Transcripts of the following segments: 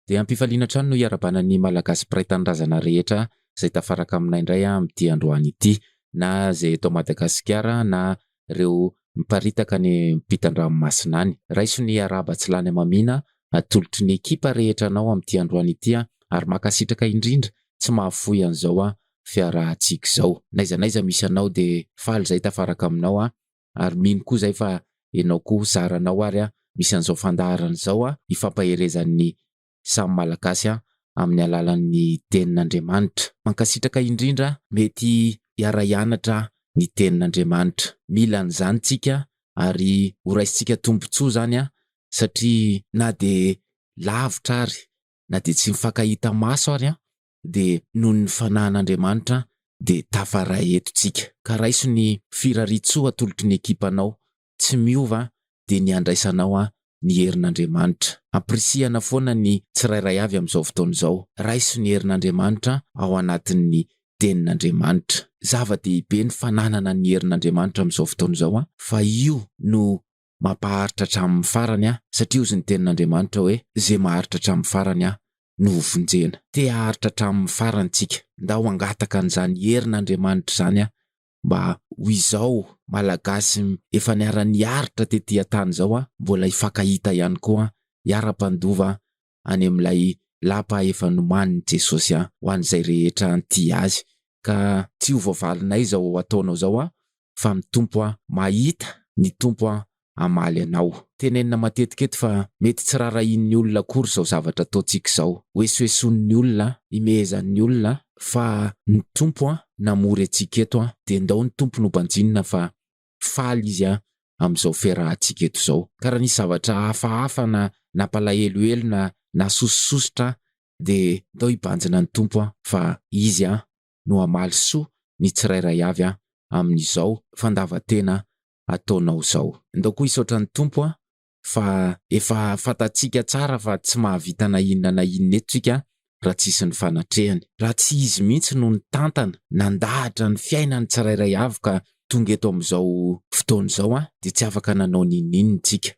Dia ampifaliana hatrany no hiarabana ny Malagasy mpiray tanindrazana rehetra izay tafaraka aminay indray amin'ity androany ity, na izay eto Madagasikara na ireo miparitaka any ampitan-dranomasina any. Raiso ny arahaba tsy lany hamamiana atolotry ny ekipa rehetra anao amin'ity androany ity ary mankasitraka indrindra tsy mahafoy an'izao fiarahantsika izao. N'aiza n'aiza misy anao dia faly izay tafaraka aminao aho ary mino koa zay fa enao koa zara anao ary an misy an'izao fandaharana izao an hifampaherezan'ny samy malagasy an amin'ny alalan'ny tenin'Andriamanitra. Mankasitraka indrindra mety hiara hianatra ny tenin'Andriamanitra. Mila an'izany tsika ary ho raisintsika tombotsoa zany an satria na dia lavitra ary na dia tsy mifankahita maso ary an dia noho ny fanahan'Andriamanitra dia tafaray eto tsika. Ka raiso ny firariantsoa atolotry ny ekipanao tsy miova dia ny handraisanao an ny herin'Andriamanitra. Ampirisihana foana ny tsirairay avy amin'izao fotoana izao. Raiso ny herin'Andriamanitra ao anatin'ny tenin'Andriamanitra. Zava-dehibe ny fananana ny herin'Andriamanitra amin'izao fotoana izao an fa io no Mampaharitra hatramin'ny farany aho, satria hozy ny tenin'Andriamanitra hoe, Ze maharitra hatramin'ny farany aho no ho vonjena. Te haharitra hatramin'ny farany tsika. Ndao hangataka an'izany herin'Andriamanitra izany aho mba ho izao Malagasy efa niara-niaritra tety an-tany izao aho, mbola hifankahita ihany koa hiara-mpandova any amin'ilay lapa efa nomanin'i Jesosy an, ho an'izay rehetra tia Azy. Ka tsy ho voavalinay izao ataonao izao an, fa ny Tompo an, mahita, ny Tompo an, hamaly anao. Tenenina matetika eto fa mety tsy raharahian'ny olona akory izao zavatra ataontsika izao. Hoesoesoin'ny olona an, himehezan'ny olona an, fa ny Tompo an, namory antsika eto an, dia ndao ny Tompo nobanjinina fa faly izy an, amin'izao fiarahantsika eto izao. Ka raha nisy zavatra hafahafa na nampalahelohelo na nasosososotra aho dia ndao hibanjina ny Tompo an, fa Izy an, no hamaly soa ny tsirairay avy an, amin'izao fandavan-tena ataonao izao. Ndao koa hisaotra ny Tompo an, fa efa fantatsika tsara fa tsy mahavita na inona na inona eto tsika raha tsisy ny fanatrehany. Raha tsy izy mihitsy no nitantana, nandahatra ny fiainany tsirairay avy ka tonga eto amin'izao fotoana izao an, dia tsy afaka nanao n'inon'inona tsika.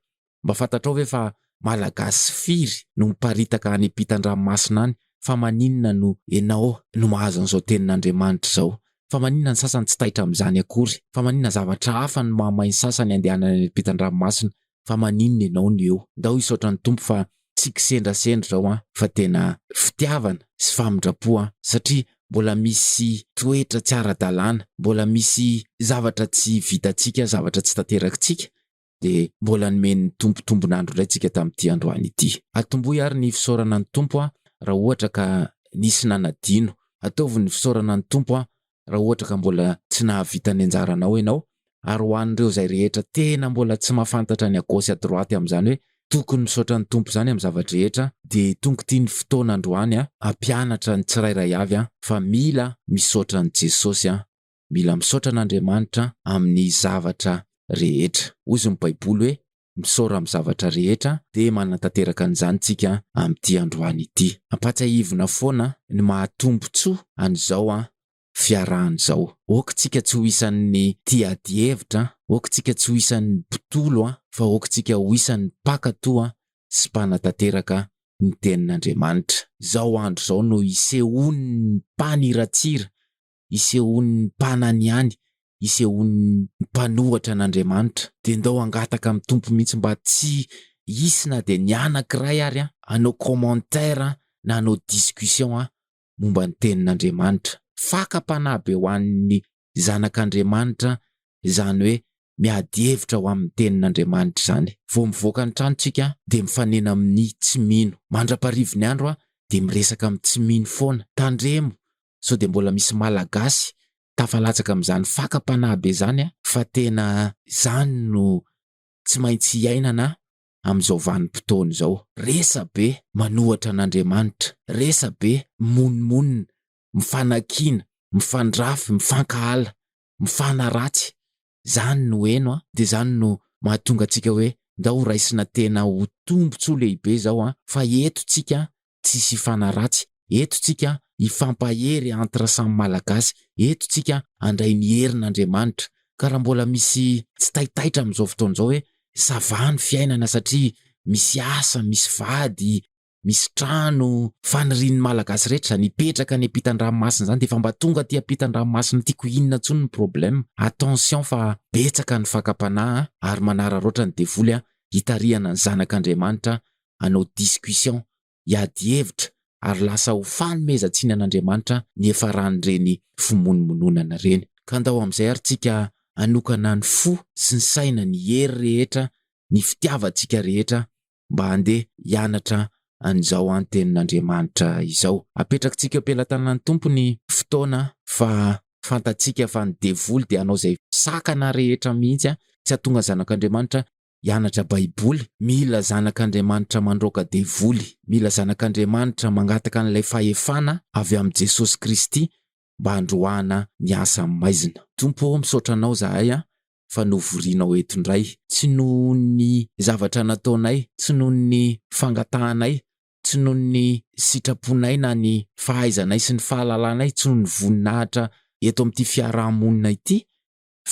Mba fantatrao ve fa Malagasy firy no miparitaka any ampitan-dranomasina any, fa maninona no enao no mahazo an'izao tenin'Andriamanitra izao? Fa maninona ny sasany tsy taitra amin'izany akory? Fa maninona zavatra hafa no mahamay ny sasany handehanana eny ampitan-dranomasina? Fa maninona ianao no eo? Ndao hisaotra ny Tompo fa tsy kisendrasendra izao an! Fa tena fitiavana sy famindram-po an! Satria mbola misy toetra tsy ara-dalàna, mbola misy zavatra tsy vitantsika, zavatra tsy tanterakintsika, dia mbola nomen'ny Tompo tombon'andro indray tsika tamin'ity androany ity. Atomboy ary ny fisaorana ny Tompo raha ohatra ka nisy nanadino. Ataovy ny fisaorana ny Tompo raha ohatra ka mbola tsy nahavita ny anjaranao ianao, ary ho an'ireo izay rehetra tena mbola tsy mahafantatra ny à gauche à droite amin'izany hoe tokony misaotra ny Tompo izany amin'ny zava-drehetra dia tonga ity ny fotoana androany hampianatra ny tsirairay avy fa mila misaotra an'i Jesosy Mila misaotra an'Andriamanitra amin'ny zavatra rehetra. Hoy izy ny Baiboly hoe, Misaora amin'ny zavatra rehetra, dia manatanteraka an'izany isika amin'ity androany ity. Ampahatsiahivina foana ny maha-tombontsoa an'izao fiarahana izao. Aoka isika tsy ho isan'ny tia adihevitra, aoka isika tsy ho isan'ny mpitolo, fa aoka isika ho isan'ny mpankatò sy mpanatanteraka ny tenin'Andriamanitra. Izao andro izao no isehoan'ny mpaniratsira isehoan'ny mpanany ihany, isehoan'ny mpanohatra an'Andriamanitra. Dia ndao hangataka amin'ny Tompo mihitsy mba tsy hisy na dia ny anankiray ary hanao commentaire na hanao discussion momba ny Tenin'Andriamanitra. Fakam-panahy be ho an'ny zanak'Andriamanitra izany hoe miady hevitra ho amin'ny Tenin'Andriamanitra izany. Vao mivoaka ny tranontsika dia mifanena amin'ny tsy mino. Mandra-parivin'ny andro dia miresaka amin'ny tsy mino foana. Tandremo sao dia mbola misy Malagasy tafalatsaka amin'izany fakam-panahy be izany an! Fa tena izany no tsy maintsy iainana amin'izao vanim-potoana izao. Resabe manohatra an'Andriamanitra, resabe mimonomonona, mifanakiana, mifandrafy, mifankahala, mifanaratsy, Zany no heno a, de zany no mahatonga tsika hoe ndao ho raisina tena ho tombotsoa lehibe zao a, fa eto tsika tsisy hifanaratsy, eto tsika hifampahery entre samy malagasy, eto tsika handray ny herin' Andriamanitra, ka raha mbola misy tsy taitaitra amizao fotoana zao hoe ça va ny fiainana satria misy asa, misy vady, misy trano fanirian'ny Malagasy rehetra izany hipetraka any ampitan-dranomasina izany dia efa mba tonga aty ampitan-dranomasina aty koa inona intsony ny problème? Attention fa betsaka ny fakam-panahy ary manararaotra ny devoly hitarihana ny zanak'Andriamanitra hanao discussion, hiady hevitra ary lasa ho fanomezan-tsiny an'Andriamanitra ny hiafaran'ireny fimonomononana ireny. Ka andao amin'izay ary tsika hanokana ny fo sy ny saina, ny hery rehetra, ny fitiavantsika rehetra mba handeha hianatra an'izao antenin'Andriamanitra izao. Apetrakitsika am-pelatanan'ny Tompo ny fotoana fa fantatsika fa ny devoly dia hanao izay sakana rehetra mihitsy tsy hahatonga zanak'Andriamanitra hianatra baiboly. Mila zanak'Andriamanitra mandroaka devoly. Mila zanak'Andriamanitra mangataka an'ilay fahefana avy amin'i Jesosy Kristy mba handroahana ny asa maizina. Tompo ô, misaotra anao zahay fa novorianao eto indray. Tsy noho ny zavatra nataonay, tsy noho ny fangatahanay, tsy noho ny sitraponay na ny fahaizanay sy ny fahalalanay, tsy noho ny voninahitra eto amin'ity fiaraha-monina ity,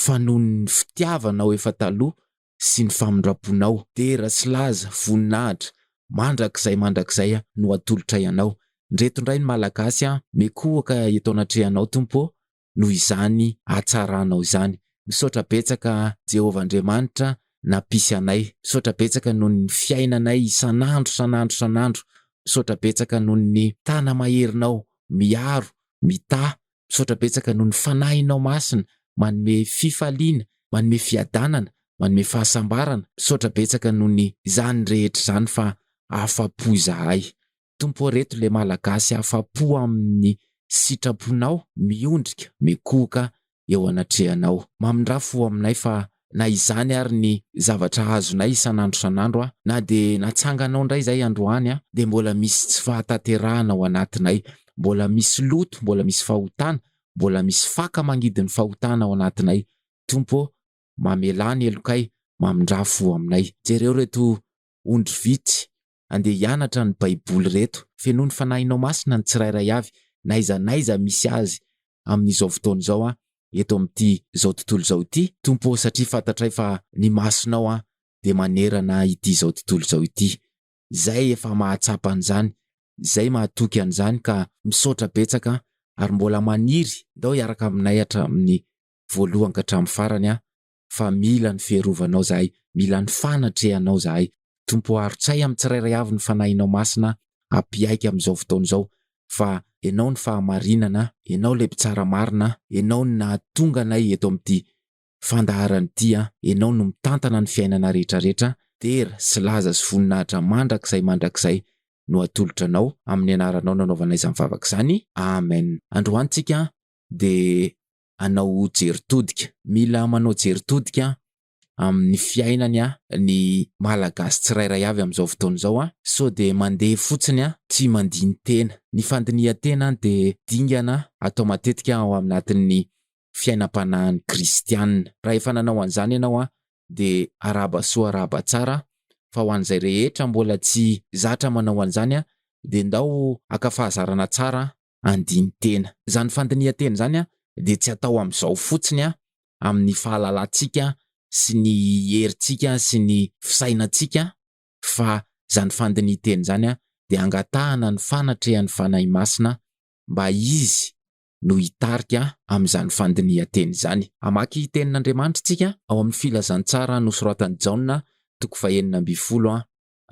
fa noho ny fitiavanao efa taloha sy ny famindram-ponao. Dera sy laza, voninahitra, mandrakizay mandrakizay no atolotray Anao. Ndreto indray ny Malagasy an, mikohoka eto anatrehanao Tompo ô, noho izany hatsaranao izany. Misaotra betsaka Jehovah Andriamanitra nampisy anay. Misaotra betsaka noho ny fiainanay isan'andro isan'andro isan'andro. Misaotra betsaka noho ny tana-maherinao miaro, mitaha. Misaotra betsaka noho ny Fanahinao Masina manome fifaliana, manome fiadanana, manome fahasambarana. Misaotra betsaka noho ny izany rehetra izany fa afa-po izahay. Tompo ô reto le malagasy afapo aminy sitraponao miondrika mikohoka eo anatrehanao mamindra fo aminay fa na izany ary ny zavatra azonay isanandro isanandro a na de natsanganao ndray zay androany a de mbola misy tsy fahataterahana ao anatinay mbola misy loto mbola misy fahotana mbola misy faka mangidy ny fahotana ao anatinay Tompo ô mamelà ny helokay mamindra fo aminay jereo reto ondry vitsy andeha hianatra ny baiboly reto, fenoy ny fanahinao masina ny tsirairay avy, na aiza naiza misy azy amin izao fotoana izao an, eto amin ity zao tontolo izao ity Tompo ô, satria fantatray fa ny masonao an dia manerana ity izao tontolo izao ity, zay efa mahatsapa an izany, zay mahatoky an izany ka misaotra betsaka an, ary mbola maniry ndao hiaraka aminay hatramin ny voalohan ka hatramin ny farany an, fa mila ny fiarovanao zahay mila ny fanatrehanao zahay Tompo o arotsay amin'ny tsirairay avy ny fanahinao masina apiaiky amin'izao fotoana izao fa enao ny fahamarinana enao ilay mpitsara marina enao ny nahatonga anay eto amin'ity fandaharana ity an enao no mitantana ny fiainana rehetra rehetra dera sy laza sy voninahitra mandrakizay mandrakizay no atolotra anao amin'ny anaranao nanaovana izany vavaka izany amen androany tsika dia hanao jery todika. Mila manao jery todika amin'ny fiainany ny Malagasy tsirairay avy amin'izao fotoana izao. Sao dia mandeha fotsiny tsy mandini-tena. Ny fandinihan-tena dia dingana atao matetika ao anatin'ny fiainam-panahin'ny kristiana. Raha efa nanao an'izany ianao dia arahaba soa arahaba tsara fa ho an'izay rehetra mbola tsy zatra manao an'izany dia ndao haka fahazarana tsara andinin-tena. Izany fandinihan-tena izany dia tsy atao amin'izao fotsiny amin'ny fahalalantsika sy ny herintsika sy ny fisainantsika fa izany fandinihan-tena izany dia hangatahana ny fanatrehan'ny Fanahy Masina mba Izy no hitarika amin'izany fandinihan-tena izany. Hamaky Tenin'Andriamanitra isika ao amin'ny Filazantsara nosoratan'i Jaona, toko fahenina ambin'ny folo,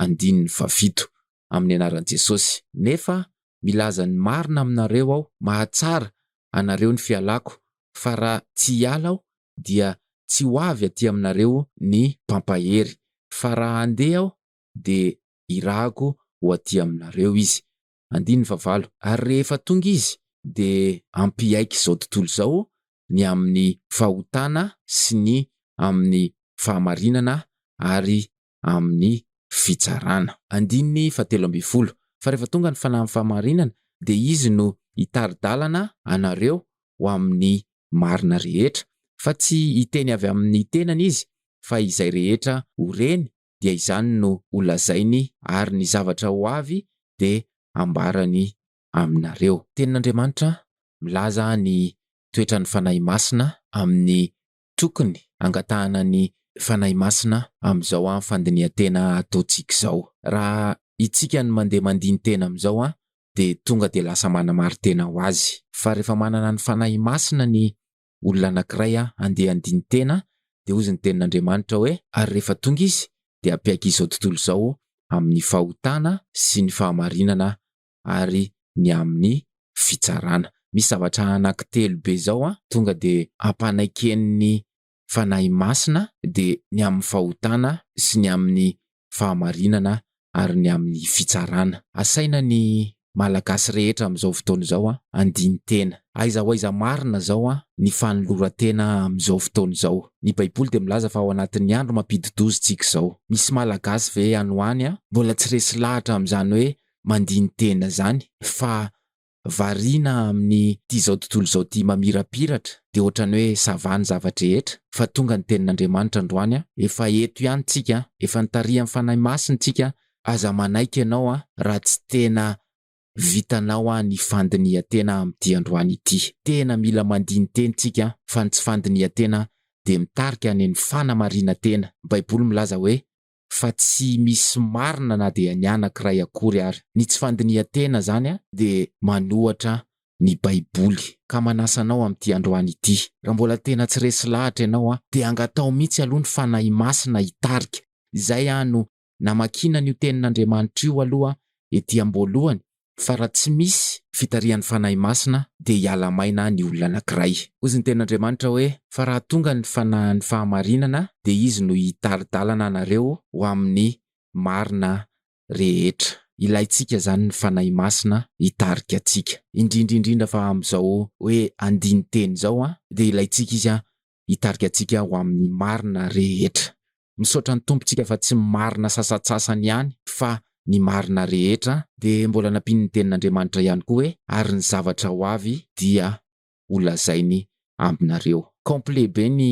andininy fahafito, amin'ny anaran'i Jesosy. Nefa milaza ny marina aminareo aho, mahatsara anareo ny fialako, fa raha tsy hiala aho, dia tsy ho avy aty aminareo ny mpampahery, fa raha handeha aho, dia hirahako ho aty aminareo izy. Andininy fahavalo, ary rehefa tonga izy, dia hampiaiky izao tontolo izao ny amin'ny fahotana sy ny amin'ny fahamarinana ary amin'ny fitsarana. Andininy fahatelo ambin'ny folo, Fa rehefa tonga ny fanahin'ny fahamarinana, dia izy no hitari-dalana anareo ho amin'ny marina rehetra, fa tsy hiteny avy amin'ny tenany izy, fa izay rehetra ho reny dia izany no ho lazainy, ary ny zavatra ho avy dia hambarany aminareo. Tenin'Andriamanitra milaza ny toetran'ny Fanahy Masina amin'ny Tokony hangatahana ny Fanahy Masina amin'izao an fandinihan-tena ataontsika izao. Raha itsika no mandeha mandini-tena amin'izao an dia tonga dia lasa manamari-tena ho Azy. Fa rehefa manana ny Fanahy Masina ny olona anankiray an handeha handini-tena dia hozy ny Tenin'Andriamanitra hoe, ary rehefa tonga Izy dia hampiaiky izao tontolo izao amin'ny fahotana sy ny fahamarinana ary ny amin'ny fitsarana. Misy zavatra anankitelo be izao tonga dia ampanaikein'ny Fanahy Masina, dia ny amin'ny fahotana sy ny amin'ny fahamarinana ary ny amin'ny fitsarana. Asaina ny Malagasy rehetra amin'izao fotoana izao handini-tena. Aiza ho aiza marina izao ny fanoloran-tena amin'izao fotoana izao? Ny Baiboly dia milaza fa ao anatin'ny andro mampidi-doza isika izao. Misy Malagasy ve any ho any mbola tsy resy lahatra amin'izany hoe mandini-tena zany fa variana amin'ny ty zao tontolo zao ty mamirapiratra de otrany hoe ça va ny zava-drehetra fa tonga ny tenin'Andriamanitra androany a, efa eto ihany tsika a, efa nitarihan'ny Fanahy Masina tsika a, aza manaiky ianao a raha tsy tena vitanao a ny fandinihan-tena amin'ity androany ity, tena mila mandini-teny tsika fa ny tsy fandinihan-tena de mitarika any amin'ny fanamarinan-tena, baiboly milaza hoe fa tsy misy marina na dia ny anankiray akory ary. Ny tsy fandinihan-tena izany dia manohatra ny Baiboly. Ka manasa anao amin'ity androany ity, raha mbola tena tsy resy lahatra ianao, dia angataho mihitsy aloha ny Fanahy Masina hitarika. Izay no namakiana an'io Tenin'Andriamanitra io aloha ety am-boalohany, Fa raha tsy misy fitarihan'ny Fanahy Masina dia hiala maina ny olona anankiray. Hozy ny Tenin'Andriamanitra hoe, Fa raha tonga ny Fanahin'ny fahamarinana dia Izy no hitari-dalana anareo ho amin'ny marina rehetra. Ilaintsika izany ny Fanahy Masina hitarika antsika. Indrindra indrindra fa amin'izao hoe andinin-teny izao dia ilaintsika Izy hitarika antsika ho amin'ny marina rehetra. Misaotra ny Tompontsika fa tsy marina sasatsasany ihany fa ny marina rehetra, dia mbola nampian'ny Tenin'Andriamanitra ihany koa hoe, ary ny zavatra ho avy dia holazainy aminareo. Complet be ny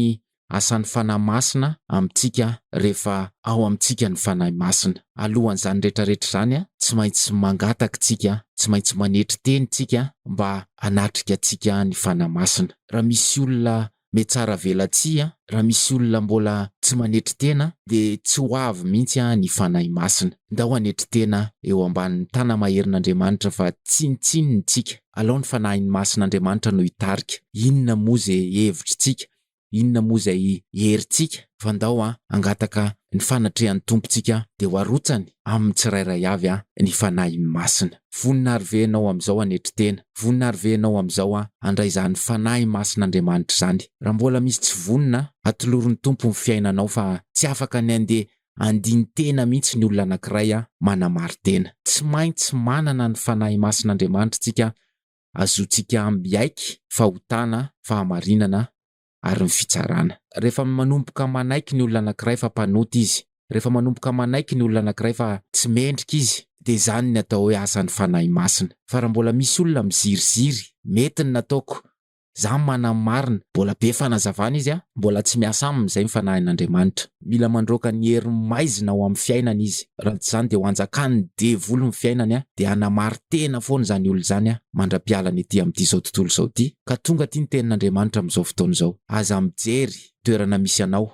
asan'ny Fanahy Masina amintsika rehefa ao amintsika ny Fanahy Masina. Alohan'izany rehetra rehetra izany, tsy maintsy mangataka isika, tsy maintsy manetry teny isika mba hanatrika antsika ny Fanahy Masina. raha misy olona mihatsaravelatsihy an, raha misy olona mbola tsy manetry tena dia tsy ho avy mihitsy an ny Fanahy Masina. Ndao hanetry tena eo ambanin'ny Tanamaherin'Andriamanitra fa tsinontsinony tsika. Alao ny Fanahiny Masin'Andriamanitra no hitarika. Inona moa ze hevitritsika, inona moa izay herintsika fa ndao an hangataka ny fanatrehan'ny Tompo tsika dia ho arotsany amin'ny tsirairay avy an ny Fanahiny Masina. Vonona ary ve ianao amin'izao hanetry tena? Vonona ary ve ianao amin'izao handray izany Fanahy Masin'Andriamanitra izany? Raha mbola misy tsy vonona, atolorin'ny Tompo ny fiainanao fa tsy afaka ny handeha handini-tena mihitsy ny olona anankiray manamari-tena. Tsy maintsy manana ny Fanahy Masin'Andriamanitra isika hazoantsika miaiky fahotana, fahamarinana, ary ny fitsarana. Rehefa manomboka manaiky ny olona anankiray fa mpanota izy, rehefa manomboka manaiky ny olona anankiray fa tsy mendrika izy, dia izany ny atao hoe asan'ny Fanahy Masina. Fa raha mbola misy olona miziriziry, mety ny nataoko, izaho manana ny marina, mbola be fanazavana izy an, mbola tsy miasa aminy izay ny Fanahin'Andriamanitra. Mila mandroaka ny herin'ny maizina ao amin'ny fiainany izy, raha tsy izany dia ho hanjakan'ny devoly ny fiainany dia hanamari-tena foana izany olona izany mandra-piala ny ety amin'ity izao tontolo izao ity ka tonga aty ny tenin'Andriamanitra amin'izao fotoana izao, aza mijery toerana misy anao,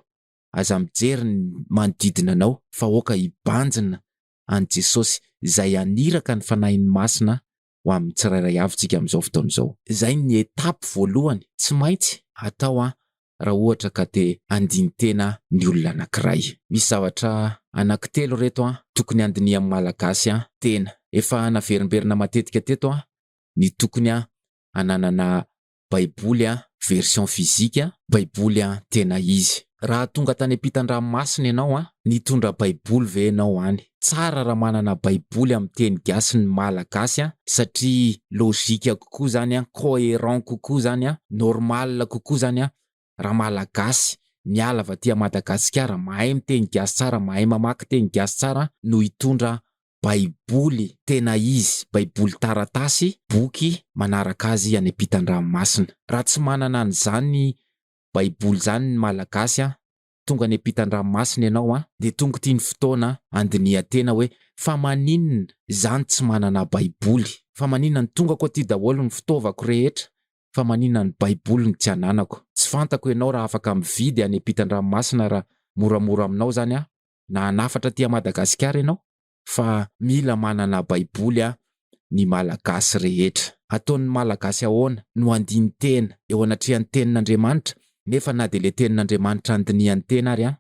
aza mijery ny manodidina anao fa aoka hibanjina an'i Jesosy izay haniraka ny Fanahiny Masina ho amin'ny tsirairay avy tsika amin'izao fotoana izao. Izay ny étape voalohany tsy maintsy atao an! raha ohatra ka te handini-tena ny olona anankiray. Misy zavatra anankitelo ireto an, tokony handinihan'ny Malagasy an, tena. Efa naverimberina matetika teto an, ny tokony an, hananana baiboly an, version physique an, baiboly an, tena izy. Raha tonga tany ampitan-dranomasina ianao an, nitondra baiboly ve ianao any? Tsara raha manana baiboly amin'ny teny gasy ny malagasy an, satria logique kokoa zany an, coherent kokoa zany an, normal kokoa zany an, raha malagasy miala avy aty Madagasikara mahay miteny gasy tsara, mahay mamaky teny gasy tsara no hitondra baiboly tena izy, baiboly taratasy, boky manaraka azy any ampitan-dranomasina. Raha tsy manana an'izany baiboly izany ny malagasy an, tonga any ampitan-dranomasina ianao an, dia tonga ity ny fotoana handinihan-tena hoe fa maninona za no tsy manana baiboly, fa maninona ny tongako aty daholo ny fitaovako rehetra fa maninona ny baiboly no tsy ananako, tsy fantako ianao raha afaka mividy any ampitan-dranomasina raha moramora aminao zany an, na hanafatra aty a Madagasikara ianao? fa mila manana baiboly a ny malagasy rehetra. Ataon'ny malagasy ahoana no handini-tena eo anatrehan'ny tenin'Andriamanitra nefa na dia ilay tenin'Andriamanitra andinihan'ny tena ary a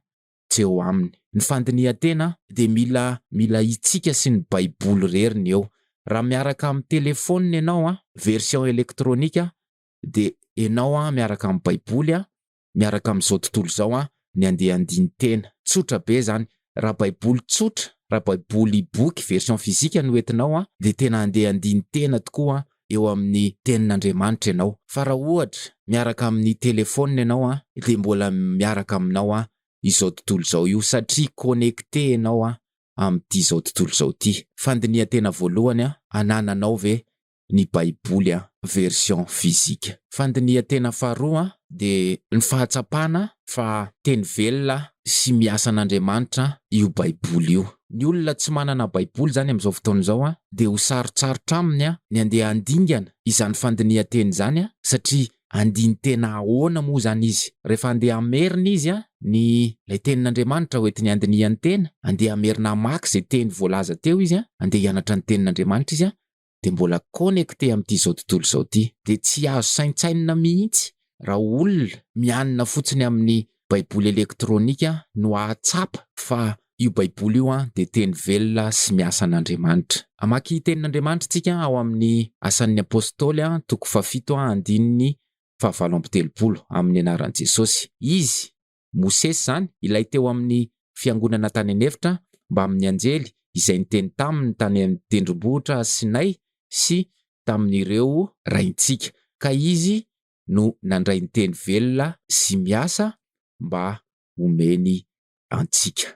tsy eo aminy. Ny fandinihan-tena dia mila mila itsika sy ny baiboly rery ny eo. Raha miaraka amin'ny telefonina ianao a, version elektronika dia enao a miaraka amin'ny baiboly a miaraka amin'izao tontolo izao an, ny andeha handiny tena. Tsotra be izany. Raha baiboly tsotra, raha baiboly boky version physique no entinao an, dia tena handeha handiny tena tokoa eo amin'ny tenin'Andriamanitra ianao. Fa raha ohatra miaraka amin'ny telephone ianao an, dia mbola miaraka aminao an, izao tontolo izao io, satria connecté ianao an, amin'ity izao tontolo izao ity. Fandinihan-tena voalohany an, anananao ve ny Baiboly an, version physique. Fandinihan-tena faharoa an, dia ny fahatsapana fa teny velona sy miasan'Andriamanitra io Baiboly io. Ny olona tsy manana Baiboly izany amin'izao fotoana izao an, dia ho sarotsarotra aminy an, ny handeha handingana izany fandinihan-teny izany an, satria andinin-tena ahoana moa izany izy? Rehefa handeha hamerina izy an, ny ilay tenin'Andriamanitra hoentiny handinihany tena, handeha hamerina hamaky izay teny voalaza teo izy an, handeha hianatra ny tenin'Andriamanitra izy an, dia mbola connecté amin'ity izao tontolo izao ity. Dia tsy azo saintsainina mihitsy raha olona mianina fotsiny amin'ny baiboly elektronika no hahatsapa fa io baiboly io dia teny velona sy miasa an'Andriamanitra. Hamaky tenin'Andriamanitra isika ao amin'ny Asan'ny Apostoly toko fahafito andininy fahavalo amby telopolo, amin'ny anaran'i Jesosy. Izy. Mosesy izany, ilay teo amin'ny fiangonana tany an'efitra mbamin'ny anjely izay niteny taminy tany amin'ny tendrombohitra Sinay sy tamin'ireo raintsika, ka izy no nandray ny teny velona sy miasa mba homeny antsika.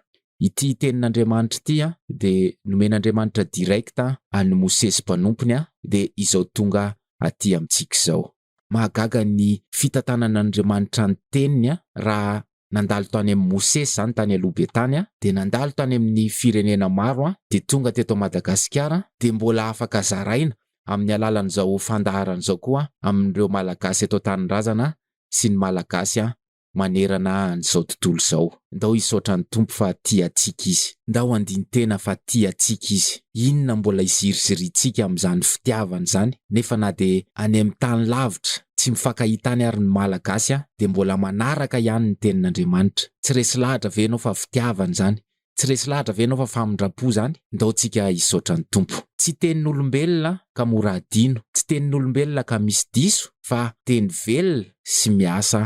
Ity tenin'Andriamanitra ity dia nomen'Andriamanitra direct an'i Mosesy mpanompony dia izao tonga aty amintsika izao. mahagaga ny fitantanana an'Andriamanitra ny teniny a! raha nandalo tany amin'i Mosesy izany tany aloha be tany a! dia nandalo tany amin'ny firenena maro a! dia tonga teto Madagasikara a! dia mbola afaka zaraina amin'ny alalan'izao fandaharana izao koa amin'ireo Malagasy eto an-tanindrazana a! sy ny Malagasy a! manerana an'izao tontolo izao. Ndao hisaotra ny Tompo fa tia antsika Izy. Ndao handini-tena fa tia antsika Izy. Inona mbola izirizirintsika amin'izany fitiavana izany? Nefa na dia any amin'ny tany lavitra, tsy mifankahita any ary ny Malagasy dia mbola manaraka ihany ny tenin'Andriamanitra. Tsy resy lahatra ve ianao fa fitiavana izany? Tsy resy lahatra ve ianao fa famindram-po izany? Ndao tsika hisaotra ny Tompo. Tsy tenin'olombelona ka mora adino, tsy tenin'olombelona ka misy diso fa teny velona sy miasa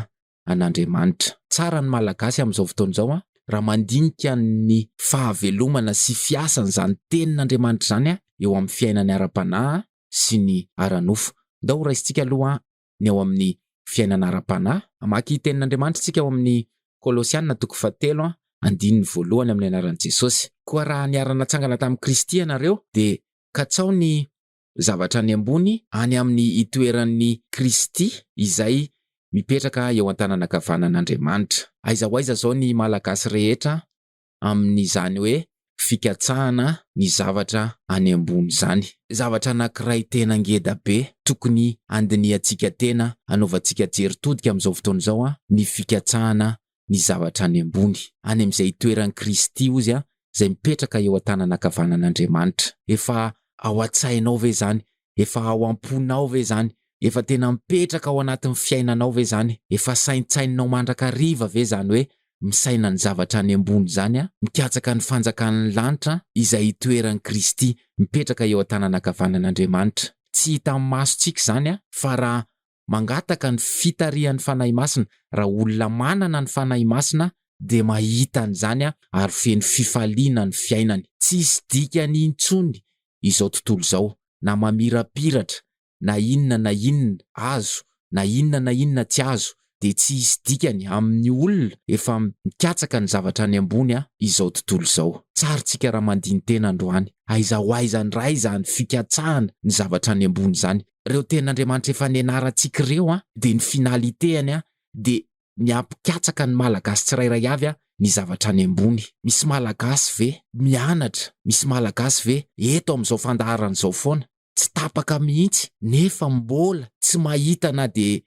an'Andriamanitra. Tsara ny Malagasy amin'izao fotoana izao an! Raha mandinika ny fahavelomana sy fiasan'izany tenin'Andriamanitra izany eo amin'ny fiainany ara-panahy sy ny ara-nofo. Ndao ho raisintsika aloha ny ao amin'ny fiainana ara-panahy? Mamaky ny Tenin'Andriamanitra isika ao amin'ny Kolosiana toko fahatelo, andininy voalohany amin'ny anaran'i Jesosy. Koa raha niara-natsangana tamin'i Kristy ianareo, dia katsao ny zavatra any ambony, any amin'ny itoeran'i Kristy, izay mipetraka eo an-tananankavanan'Andriamanitra. Aiza ho aiza izao ny Malagasy rehetra amin'izany hoe fikatsahana ny zavatra any ambony izany. Zavatra anankiray tena ngeda be tokony handinihantsika tena, hanaovantsika jery todika amin'izao fotoana izao ny fikatsahana ny zavatra any ambony, any amin'izay itoeran'i Kristy ozy izay mipetraka eo an-tanana ankavanan'Andriamanitra. Efa ao an-tsainao ve izany? Efa ao am-ponao ve izany? Efa tena mipetraka ao anatin'ny fiainanao ve izany? Efa saintsaininao mandrakariva ve izany hoe misaina ny zavatra any ambony izany aho, mikatsaka ny fanjakan'ny lanitra izay itoeran'i Kristy, mipetraka eo an-tanana ankavanan'Andriamanitra? Tsy hitan'ny masontsika izany fa raha mangataka ny fitarihan'ny Fanahy Masina, raha olona manana ny Fanahy Masina dia mahita an'izany ary feno fifaliana ny fiainany. Tsy hisy dikany intsony izao tontolo izao, na mamirapiratra, na inona na inona azo, na inona na inona tsy azo, dia tsy hisy dikany amin'ny olona efa mikatsaka ny zavatra any ambony izao tontolo izao. Tsarintsika raha mandini-tena androany, aiza ho aiza indray izany fikatsahana ny zavatra any ambony izany, reo tenin'Andriamanitra efa nianarantsika ireo an dia ny finalitéany an dia ny hampikatsaka ny Malagasy tsirairay avy an ny zavatra any ambony. Misy Malagasy ve mianatra, misy Malagasy ve eto amin'izao fandaharana izao foana, tsy tapaka mihitsy nefa mbola tsy mahita na dia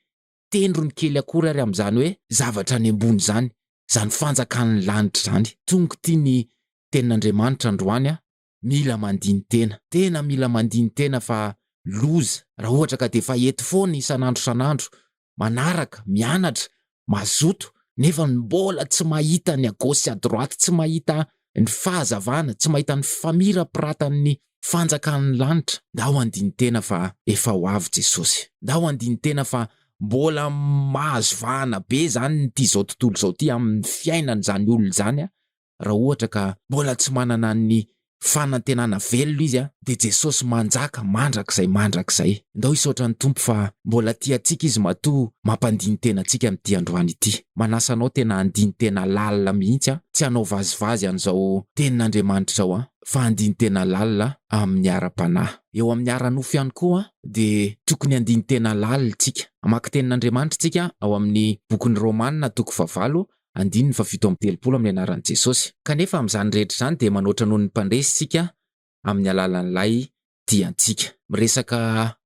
tendrony kely akory ary amin'izany hoe zavatra any ambony izany, izany fanjakan'ny lanitra izany. Tonga ity ny tenin'Andriamanitra androany an mila mandini-tena. Tena mila mandini-tena fa loza raha ohatra ka dia efa eto foana isan'andro isan'andro, manaraka, mianatra, mazoto, nefa mbola tsy mahita ny à gauche sy à droite, tsy mahita ny fahazavana, tsy mahita ny famirapiratany fanjakan'ny lanitra. Ndao handini-tena fa efa ho avy Jesosy. Ndao handini-tena fa mbola mahazo vahana be izany ity izao tontolo izao ity amin'ny fiainan'izany olona izany raha ohatra ka mbola tsy manana ny fanantenana velona izy dia Jesosy manjaka mandrakizay mandrakizay. Ndao hisaotra ny Tompo fa mbola tia antsika Izy matoa mampandini-tena antsika amin'ity androany ity. Manasa anao tena handini-tena lalina mihitsy aho, tsy hanao vazivazy an'izao Tenin'Andriamanitra izao aho, fa handini-tena lalina amin'ny ara-panahy. Eo amin'ny ara-nofo ihany koa dia tokony handini-tena lalina isika. Hamaky Tenin'Andriamanitra isika ao amin'ny bokin'ny Romana toko fahavalo andininy fahafito amby telopolo amin'ny anaran'i Jesosy. Kanefa amin'izany rehetra izany dia manoatra noho ny mpandresy isika amin'ny alalan'ilay diantsika. Miresaka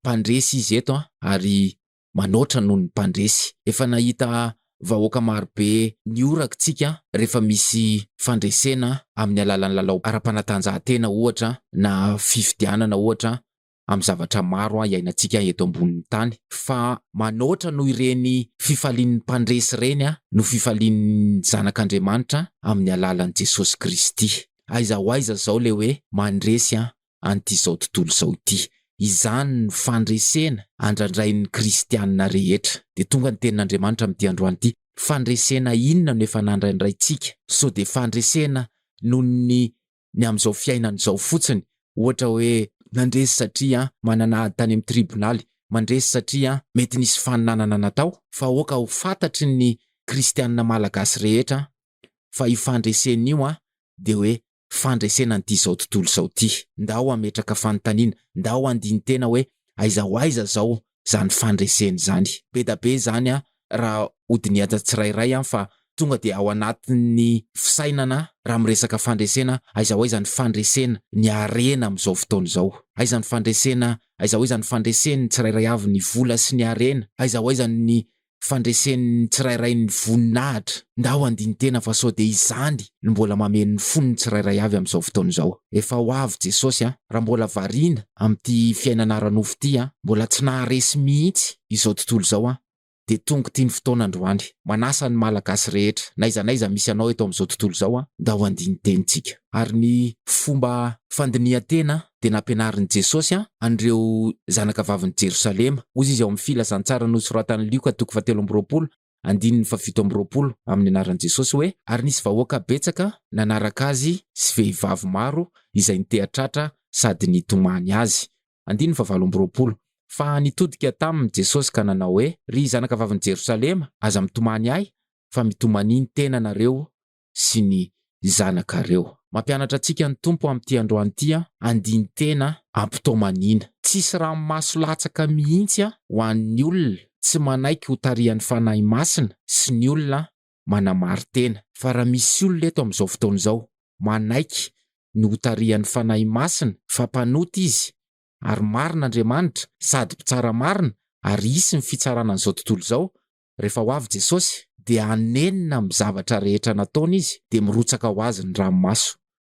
mpandresy izy eto an, ary manoatra noho ny mpandresy. Efa nahita vahoaka marobe nihoraka isika rehefa misy fandresena amin'ny alalan'ny lalao ara-panatanjahantena ohatra, na fifidianana ohatra, amin'ny zavatra maro iainantsika eto ambonin'ny tany fa manoatra noho ireny fifalian'ny mpandresy ireny no fifalian'ny zanak'Andriamanitra amin'ny alalan'i Jesosy Kristy. Aiza ho aiza izao ilay hoe mandresy an'itizao tontolo izao ity? Izany no fandresena andrandrain'ny kristiana rehetra. Dia tonga ny tenin'Andriamanitra amin'ity androany ity, fandresena inona no efa nandrandraintsika? Sao dia fandresena noho ny ny amin'izao fiainana izao fotsiny, ohatra hoe nandresy satria manana ady tany amin'ny tribonaly, mandresy satria mety nisy faninanana natao, fa aoka ho fantatry ny kristianina malagasy rehetra fa io fandresena io dia hoe fandresena an'ity izao tontolo izao ity. Ndao hametraka fanontaniana, ndao handini-tena hoe aiza ho aiza izao zany fandresena izany. Bedabe izany a raha hodinihantsy tsirairay an fa tonga dia ao anatin'ny fisainana raha miresaka fandresena aiza ho aiza ny fandresena ny harena amin'izao fotoana izao? Aiza ny fandresena aiza ho aiza ny fandresen'ny tsirairay avy ny vola sy ny harena? Aiza ho aiza ny fandresen'ny tsirairay ny voninahitra, ndao handini-tena fa sao dia izany no mbola mameno ny fon'ny tsirairay avy amin'izao fotoana izao. Efa ho avy Jesosy an! Raha mbola variana amin'ity fiainana ara-nofo ity an! Mbola tsy naharesy mihitsy izao tontolo izao an! Dia tonga ity ny fotoana androany. Manasa ny Malagasy rehetra, n'aiza n'aiza misy anao eto amin'izao tontolo izao an! Ndao handini-tenintsika. Ary ny fomba fandinihan-tena dia nampianarin'i Jesosy an'ireo zanaka vavin'i Jerosalema. Hoy izy ao amin'ny Filazantsara nosoratan'i Lioka toko fahatelo amby roapolo, andininy fahafito amby roapolo, amin'ny anaran'i Jesosy hoe, Ary nisy vahoaka betsaka nanaraka azy sy vehivavy maro izay niteha-tratra sady nitomany azy. Andininy fahavalo amby roapolo. Fa nitodika taminy Jesosy ka nanao hoe, Ry zanaka vavin'i Jerosalema, aza mitomany ahy, fa mitomania ny tenanareo sy ny zanakareo. Mampianatra antsika ny Tompo amin'ity androany ity andinin-tena am-potoam-anina. Tsisy ranomaso latsaka mihitsy ho an'ny olona tsy manaiky ho tarihan'ny Fanahy Masina sy ny olona manamari-tena. Fa raha misy olona eto amin'izao fotoana izao manaiky ny ho tarihan'ny Fanahy Masina fa mpanota izy ary marina Andriamanitra sady mpitsara marina ary hisy ny fitsarana an'izao tontolo izao Rehefa ho avy Jesosy, dia hanenina amin'ny zavatra rehetra nataony Izy, dia mirotsaka ho Azy ny ranomaso.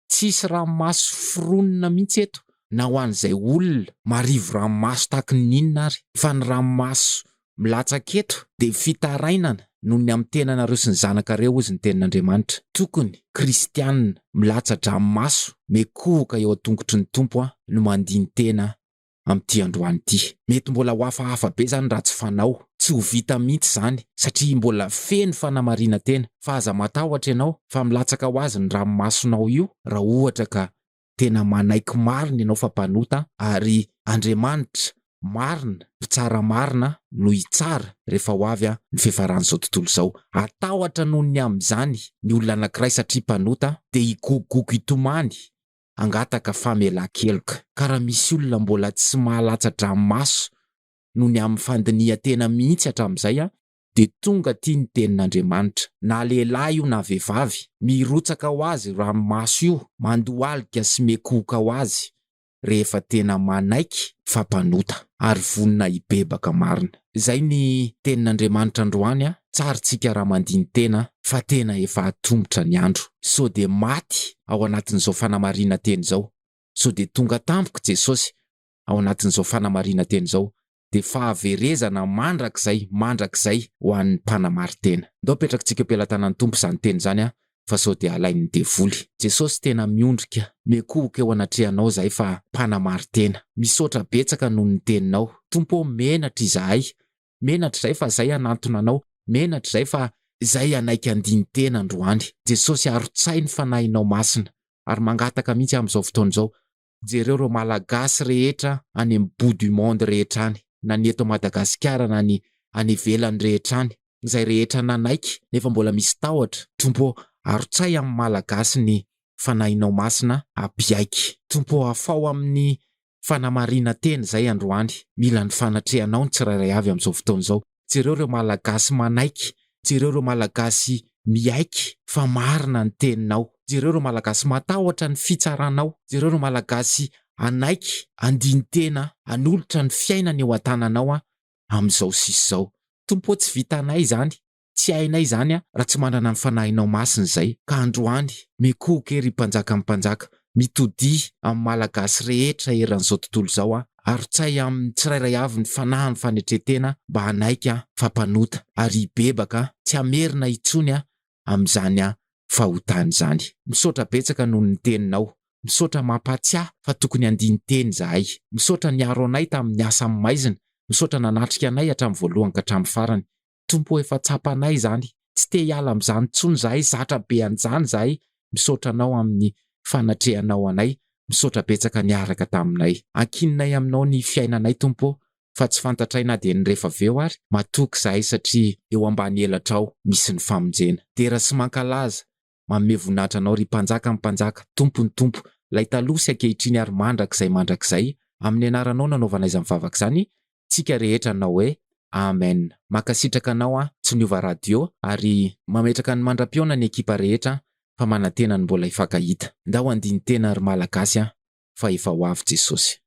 Tsy hisy ranomaso foronina mihitsy eto, na ho an'izay olona marivo ranomaso tahaky ny inona ary, fa ny ranomaso milatsaka eto dia fitarainana noho ny amin'ny tenanareo sy ny zanakareo, hozy ny Tenin'Andriamanitra. Tokony, Kristianina, milatsa-dranomaso, miekohoka eo an-tongotry ny Tompo aho, no mandini-tena aho. amin'ity androany ity. Mety mbola ho hafahafa be izany raha tsy fanao. Tsy ho vita mihitsy izany satria mbola feno fanamarinan-tena fa aza matahotra ianao fa milatsaka ho azy ny ranomasonao io raha ohatra ka tena manaiky marina ianao fa mpanota ary Andriamanitra marina, mpitsara marina no hitsara rehefa ho avy ny fiafaran'izao tontolo izao. Hatahotra noho ny amin'izany ny olona anankiray satria mpanota dia higogogogo hitomany hangataka famelan-keloka. Ka raha misy olona mbola tsy mahalatsa-dranomaso noho ny amin'ny fandinihan-tena mihitsy hatramin'izay, dia tonga aty ny Tenin'Andriamanitra. Na lehilahy io na vehivavy, mirotsaka ho azy io ranomaso io, mandohalika sy miekohoka ho azy, rehefa tena manaiky fa mpanota, ary vonona hibebaka marina. Izay ny tenin'Andriamanitra androany a! Tsar tsika raha mandini-tena fa tena efa atombotra ny andro. So dia maty ao anatin'izao fanamarinan-teny izao. So dia tonga tampoka Jesosy ao anatin'izao fanamarinan-teny izao. Dia fahaverezana mandrakizay mandrakizay ho an'ny mpanamari-tena. Ndao apetrakitsika eo am-pelatanan'ny Tompo izany teny izany a! fa sao dia halain'ny devoly. Jesosy tena miondrika, miankohoka eo anatrehanao zahay fa mpanamaritena. Misaotra betsaka noho ny teninao. Tompo ô menatra izahay. Menatra izahay fa zay hanantona anao. Menatra izahay fa zay hanaiky andinin-tena androany. Jesosy arotsahy ny fanahinao masina ary mangataka mihitsy amin'izao fotoana izao Jereo ireo Malagasy rehetra any amin'ny bout du monde rehetra any, na ny eto Madagasikara na ny any ivelany rehetra any, izay rehetra nanaiky nefa mbola misy tahotra, Tompo ô arotsay amin'ny Malagasy ny Fanahinao Masina ampiaiky. Tompo ô afaho amin'ny fanamarina-tena izay androany, mila ny fanatrehanao ny tsirairay avy amin'izao fotoana izao. jereo ireo malagasy manaiky, jereo ireo malagasy miaiky fa marina ny teninao, jereo ireo malagasy matahotra ny fitsaranao, jereo ireo malagasy hanaiky handini-tena hanolotra ny fiainany eo an-tananao amin'izao sisa izao. Tompo ô tsy vitanay izany, tsy hainay izany raha tsy manana ny Fanahinao Masina izay, ka androany, mikohoka ery Mpanjakan'ny mpanjaka, Mitodiha amin'ny Malagasy rehetra eran'izao tontolo izao aho. Arotsay amin'ny tsirairay avy ny fanahy ny fanetren-tena mba hanaiky aho fa mpanota ary hibebaka tsy hamerina intsony aho amin'izany fahotana izany. Misaotra betsaka noho ny teninao. Misaotra mampahatsiahy fa tokony handini-teny izahay. Misaotra niaro anay tamin'ny asa amin'ny maizina. Misaotra nanatrika anay hatramin'ny voalohany ka hatramin'ny farany. Tompo efa tsapanay izany, tsy te hiala amin'izany intsony izahay, zatra be an'izany izahay, misaotra Anao amin'ny fanatrehanao anay, misaotra betsaka niaraka taminay. Ankininay aminao ny fiainanay Tompo ô, fa tsy fantatray na dia ny rehefa avy eo ary, matoky izahay satria eo ambany elatrao misy ny famonjena. Dera sy mankalaza, Manome voninahitra Anao, ry Mpanjakan'ny mpanjaka, Tompon'ny tompo, Ilay taloha sy ankehitriny ary mandrakizay mandrakizay, amin'ny Anaranao nanaovana izany vavaka izany, tsika rehetra nanao hoe, Amen. Mankasitraka anao aho, tsy niova radio, ary. Mametraka ny mandra-pihaona ny ekipa rehetra fa manantena ny mbola hifankahita. Ndao handini-tena ry Malagasy a, fa efa ho avy Jesosy.